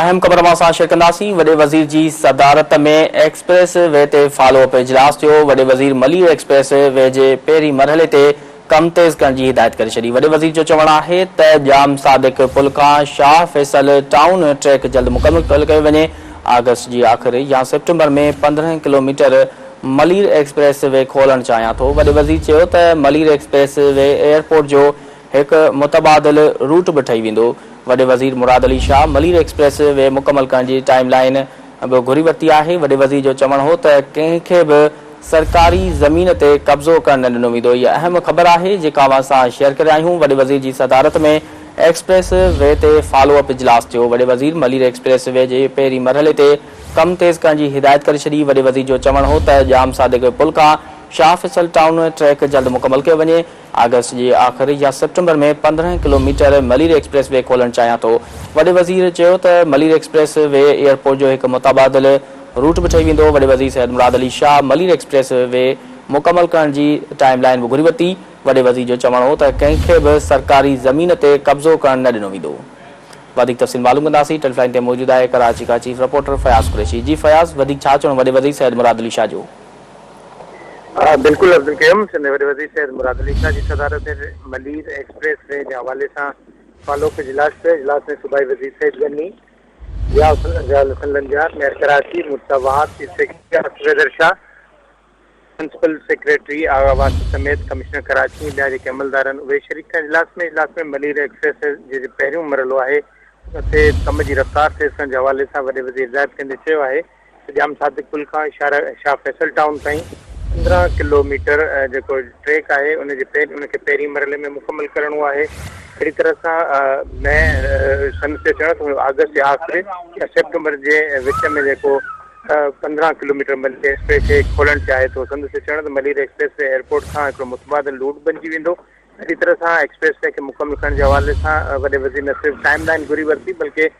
اهم خبر اوهان سان شيئر ڪنداسين، وڏي وزير جي صدارت ۾ ايڪسپريس وي تي فالو اپ اجلاس ٿيو، وڏي وزير ملير ايڪسپريس وي جي پهرين مرحلي تي ڪم تيز ڪرڻ جي هدايت ڪري ڇڏي، وڏي وزير جو چوڻ آهي ته ڄام صادق پل کان شاهه فيصل ٽائون ٽريڪ جلد مڪمل ڪيو وڃي، آگسٽ جي آخر يا سيپٽمبر ۾ پندرهن ڪلوميٽر ملير ايڪسپريس وي کولڻ چاهيان ٿو، وڏي وزير چيو ته ملير ايڪسپريس وي ايئرپورٽ جو هڪ متبادل روٽ به ٺهي ويندو، وڏي وزير مراد علي شاهه ملير ايڪسپريس وي مڪمل ڪرڻ جي ٽائيم لائين به گهري ورتي آهي، وڏي وزير جو چوڻ هو ته ڪنهن کي به سرڪاري زمين تي قبضو ڪرڻ نه ڏنو ويندو، هيء اهم خبر آهي جيڪا اوهان سان شيئر ڪري آهيون، وڏي وزير جي صدارت ۾ ايڪسپريس وي تي فالو اپ اجلاس ٿيو، وڏي وزير ملير ايڪسپريس وي جي پهرين مرحلي تي ڪم تيز ڪرڻ جي هدايت ڪري ڇڏي، وڏي وزير جو چوڻ هو ته ڄام صادق پل کان شاهه فيصل ٽائون ٽريڪ جلد مڪمل ڪيو وڃي، آگسٽ جي آخر يا سيپٽمبر ۾ پندرهن ڪلوميٽر ملير ايڪسپريس وي کولڻ چاهيان ٿو. وڏي وزير چيو ته ملير ايڪسپريس وي ايئرپورٽ جو هڪ متبادل روٽ به ٺهي ويندو. وڏي وزير سيد مراد علي شاهه ملير ايڪسپريس وي مڪمل ڪرڻ جي ٽائيم لائين به گهري ورتي. وڏي وزير جو چوڻ هو ته ڪنهن کي به سرڪاري زمين تي قبضو ڪرڻ نه ڏنو ويندو. وڌيڪ تفصيل معلوم ڪنداسين. ٽيلي لائين تي موجود آهي ڪراچي کان چيف رپورٽر فياض قريشي. جي فياض وڌيڪ ڇا چوڻ وڏي وزير سيد مراد علي شاهه جو. بلڪل عبدالقيوم سنڌ وڏي وزير سيد مراد علي شاهه جي صدارت هيٺ ملير ايڪسپريس وي جي حوالي سان فالو اپ اجلاس ٿيو اجلاس ۾ صوبائي وزير Saeed Ghani Ziaul Hassan Lanjar mayor Karachi Murtaza Wahab chief secretary Asif Haider Shah principal secretary Agha Wasi سميت ڪمشنر ڪراچي ۽ ٻيا جيڪي عملدار آهن اهي شريڪ ٿيا اجلاس ۾ اجلاس ۾ ملير ايڪسپريس وي جي جي پهريون مرحلو آهي ان تي ڪم جي رفتار تيز ڪرڻ جي حوالي سان وڏي وزير هدايت ڪندي چيو آهي سڄام صادق پل کان شاهه فيصل ٽائون تائين پندرهن ڪلو ميٽر جيڪو ٽريڪ آهي ان جي ان کي پهرين مرحلي ۾ مڪمل ڪرڻو آهي اهڙي طرح سان مئي سن تي چڙهڻ ٿو آگسٽ جي آخر ۽ سيپٽمبر جي وچ ۾ جيڪو پندرهن kilometre Malir expressway کولڻ چاهي ٿو سندس چڙهندي ملير ايڪسپريس وي ايئرپورٽ کان هڪڙو متبادل روٽ بنجي ويندو اهڙي طرح سان ايڪسپريس وي کي مڪمل ڪرڻ جي حوالي سان وڏي وزير نه صرف ٽائيم لائين گهري ورتي بلڪه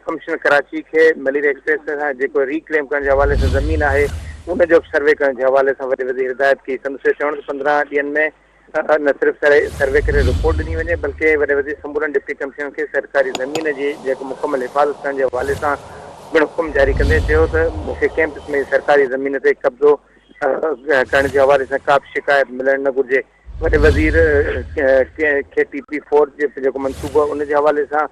ڪمشنر ڪراچي کي ملير ايڪسپريس وي سان جيڪو ري ڪليم ڪرڻ جي حوالي سان زمين آهي ان جو به سروي ڪرڻ جي حوالي سان وڏي وزير هدايت ڪئي سندس اهو چوڻ ته پندرهن ڏينهن ۾ نه صرف سروي ڪري رپورٽ ڏني وڃي بلڪه وڏي وزير سمورن ڊپٽي ڪمشنرن کي سرڪاري زمين جي جيڪو مڪمل حفاظت ڪرڻ جي حوالي سان پڻ حڪم جاري ڪندي چيو ته مون کي ڪنهن قسم جي سرڪاري زمين تي قبضو ڪرڻ جي حوالي سان ڪا به شڪايت ملڻ نه گهرجي وڏي وزير کي ٽي پي فور جو جيڪو منصوبو آهي ان جي حوالي سان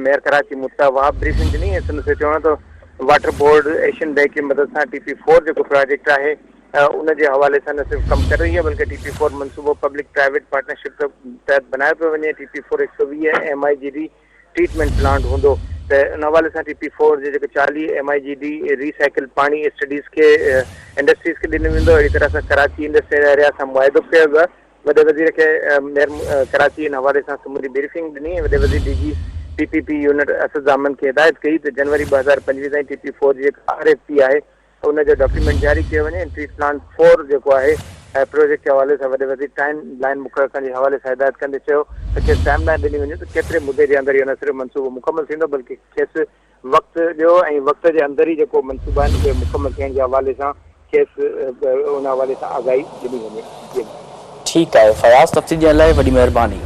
ميئر ڪراچي مرتضيٰ وهاب بريفنگ ڏني ۽ سندس چوڻ آهي ته واٽر بورڊ ايشين بئنڪ جي مدد سان ٽي پي فور جيڪو پراجيڪٽ آهي ان جي حوالي سان نه صرف ڪم ڪري رهي آهي بلڪه ٽي پي فور منصوبو پبلڪ پرائيويٽ پارٽنرشپ تحت بنايو پيو وڃي ٽي پي فور هڪ سؤ ويهه M I G D treatment plant هوندو ته ان حوالي سان ٽي پي فور جي جيڪي چاليهه M I G D recycle پاڻي اسٽڊيز کي انڊسٽريز کي ڏنو ويندو اهڙي طرح سان ڪراچي انڊسٽريل ايريا سان معاهدو به ڪيو ويو آهي وڏي وزير کي ميئر ڪراچي ان حوالي سان سموري بريفنگ ڏني ۽ وڏي وزير D G P P P unit Asad Zaman کي هدايت ڪئي ته جنوري ٻه هزار پنجويهه تائين ٽي پي فور جي جيڪا آر ايف پي آهي ان جو ڊاڪيومينٽ جاري ڪيو وڃي ۽ ٽريٽ پلان فور جيڪو آهي پروجيڪٽ جي حوالي سان وڏي وزير ٽائيم لائين مقرر ڪرڻ جي حوالي سان هدايت ڪندي چيو ته کيس ٽائيم لائين ڏني وڃي ته ڪيتري مدي جي اندر اهو نه صرف منصوبو مڪمل ٿيندو بلڪه کيس وقت ڏيو ۽ وقت جي اندر ئي جيڪو منصوبا آهن اهي مڪمل ٿيڻ جي حوالي سان کيس ان حوالي سان آگاهي ڏني وڃي. ٺيڪ آهي فياض تفصيل ڏيڻ لاء وڏي مهرباني.